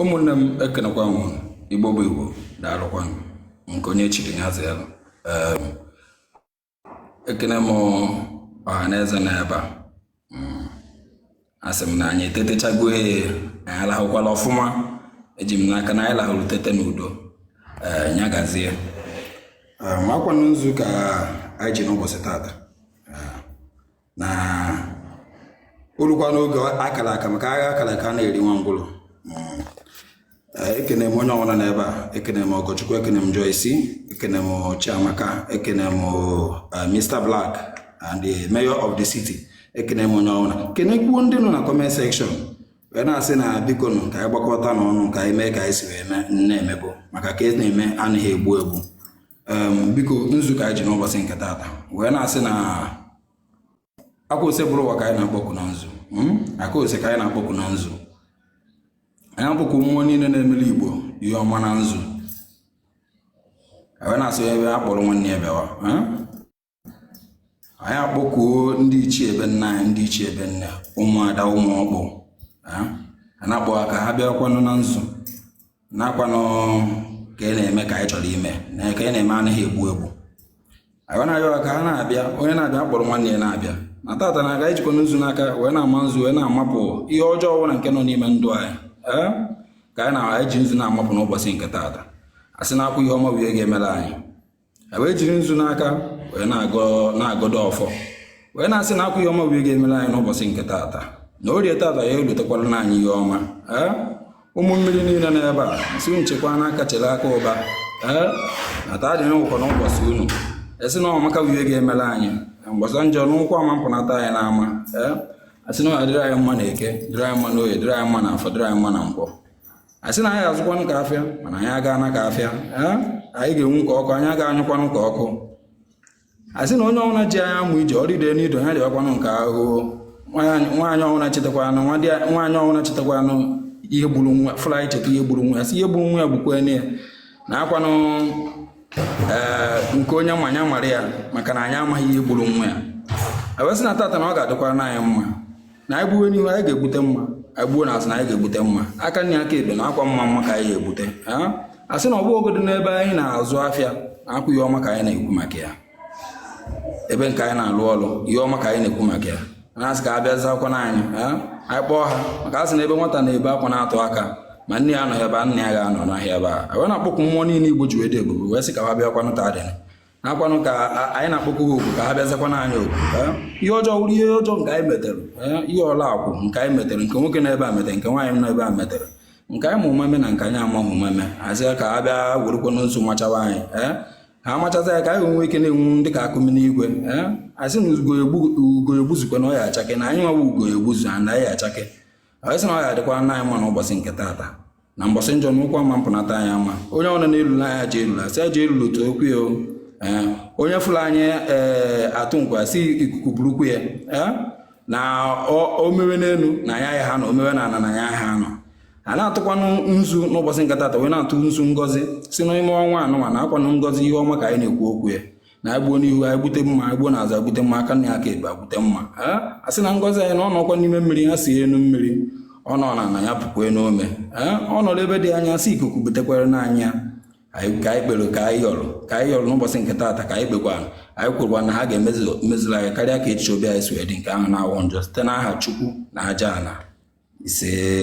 ụmụnne m ekenekwa m igbo bụ igbo daalụkwanụ nke onye chiri ya zelu ekene m ọha na eze n'ebe a mm. asị m na anyị etetechago ya anyị alahụkwala ọfụma eji m n'aka na anyị lahụrụ tete n'udo nya gazie makwanụ nzu ka anyị ji n'ụbọchị tata na o lukwa n'oge a kara aka maka agha a kara aka ana-eri nwa ngwụlọ hmm. eh, ekene m onye ọbụla n'ebe a ekene m Ọgọchukwu ekene m Joyce ekene m Chiamaka ekene m eh, Mr Black and the mayor of the city ekene m onye ọbụla kenekwuo ndị nọ na comment section wee na-asị na biko nụ ka anyị gbakọta n'ọnụ ka anyị mee ka anyị si wee na-emebụ maka ka e na-eme anaghị egbu egbu biko nzu ka anyị ji n'ụbọchị nke taata wee na-asị na akwa Osebụrụwa ka anyị na-akpọku na nzu hmm? akwa Ose ka anyị na-akpọku na nzu anyị akpọku mmụọ niile na-emeli igbo ihe ọma na nzu wee na-asị ebe a kpọrọ nwanne ya bịawa hmm? anyị akpọkuo ndị ichie ebe nna anyị ndị ichie ebe nne ụmụada ụmụ ọkpụ a na-akpọ ha ka ha bịakwanụ na nzu na akwanụ ka e na-eme ka anyị chọrọ ime na ka e na-eme anaghị egbu egbu anyị na-ayọ ka ha na-abịa onye na-abịa kpọrọ nwanne ya na-abịa na tata na a ga-ejikwa nzu n'aka wee na-ama nzu wee na-amapụ ihe ọjọọ ọbụla nke nọ n'ime ndụ anyị ka anyị na-eji nzu na-amapụ n'ụbọchị nke tata a sị na akwa ihe ọma bụ ihe ga-emere anyị e wee jiri nzu n'aka wee na-agọdo ọfọ wee na-asị na akwa ihe ọma bụ ihe ga-emere anyị n'ụbọchị nke taata na orie taata ya elitekwara na anyị ihe ọma ee ụmụ mmiri niile n'ebe a si nchekwa n'aka chere aka ụba ee na taa dị n'ụkọ n'ụbọchị unu a sị na ọmaka bụ ihe ga-emere anyị mgbasa njọ n'ụkwụ ama mpụnata anyị n'ama ee asị na ọ dịrị anyị mma na eke dịrị anyị mma na oye dịrị anyị mma na afọ dịrị anyị mma na nkwọ asị na anyị azụkwanụ ka afịa mana anyị aga ana ka afịa anyị ga-enwu ka ọkụ anyị aga anyụkwanụ ka ọkụ asị na onye ọbụla ji anyị amụ ije ọ rịdee n'ido ya rịakwanụ nke ahụ nwaanyị ọbụla chetakwanụ nwaanyị ọbụla chetakwanụ ihe gburu nwa fụlụ anyị cheta ihe gburu nwa ya sị ihe gburu nwa ya gbukwa ya na akwanụ eh, nke onye ma nya mara ya maka na anyị amaghị ihe gburu nwa ya e wee sị na tata na ọ ga-adịkwara na anyị mma na anyị gbuwe n'ihu anyị ga-egbute mma anyị gbuo n'azụ na anyị ga-egbute mma aka nri aka ekpe na akwa mma mma ka anyị ga-egbute a sị na ọ bụgodu n'ebe anyị na-azụ afịa akwa ihe ọma ka anyị na-ekwu maka ya ebe nke anyị na-alụ ọlụ ihe ọma ka anyị na-ekwu maka ya na-asị ka ha bịa zakwa na anyị anyị kpọọ ha maka a sị na ebe nwata na-ebe akwa na-atụ aka ma nne ya anọghị ebe a nna ya ga-anọ n'ahịa ebe a wee na-akpọku mmụọ niile igbo ji wee dị ebube wee sị ka ha bịakwanụ ta adịna nakwanụ ka anyị na-akpọkwu ha okwu ka ha bịa zakwana anyị okwu ihe ọjọọ wụrụ ihe ọjọọ nke anyị metere ihe ọla akwụ nke anyị metere nke nwoke nọ ebe a metere nke nwaanyị nọ ebe a metere nke anyị ma ụma mee na nke anyị amaghị ụma mee a sị ka ha bịa werekwana nzu machawa anyị ha machaza ya ka anyị nwee ike na-enwu dị ka akụ mini igwe a sị na ugo egbuzukwa na ọ ya achake na anyị nwa wụ ugo egbuzu na anyị achake anyị sị na ọ ya adịkwara na anyị mma n'ụbọchị nke taata na mbọsị njọ na ụkwụ ama mpụnata anyị ama onye ọbụla na-elula anyị ajọ elula sị ajọ elula otu okwu ya eh, onye fụrụ anyị ee eh, atụ nkwa sị ikuku burukwu ya eh, na o mewe n'elu na anya ya ha nọ o mewe na ana na anya ha nọ a na-atụkwanụ nzu n'ụbọchị nke taata wee na-atụ nzu ngọzi si n'ime ọnwa anụnwa na akwanụ ngọzi ihe ọma ka anyị na-ekwu okwu ya na anyị gbuo n'ihu anyị gbute mma anyị gbuo n'azụ anyị gbute mma aka nni aka ekpe anyị gbute mma a sị na ngọzi anyị na ọ nọkwa n'ime mmiri ya see enu mmiri ọ nọ n'ana ya pukwanụ ome ọ nọrọ ebe dị anya sị ikuku butekwaranụ anyị ka anyị kpere ka anyị yọrọ ka anyị yọrọ n'ụbọchị nke taata ka anyị kpekwa anyị kwurukwa na ha ga-emezula anyị karịa ka echiche obi anyị si wee dị nke ahụ na-awụ njọ site n'aha Chukwu na aja ala ise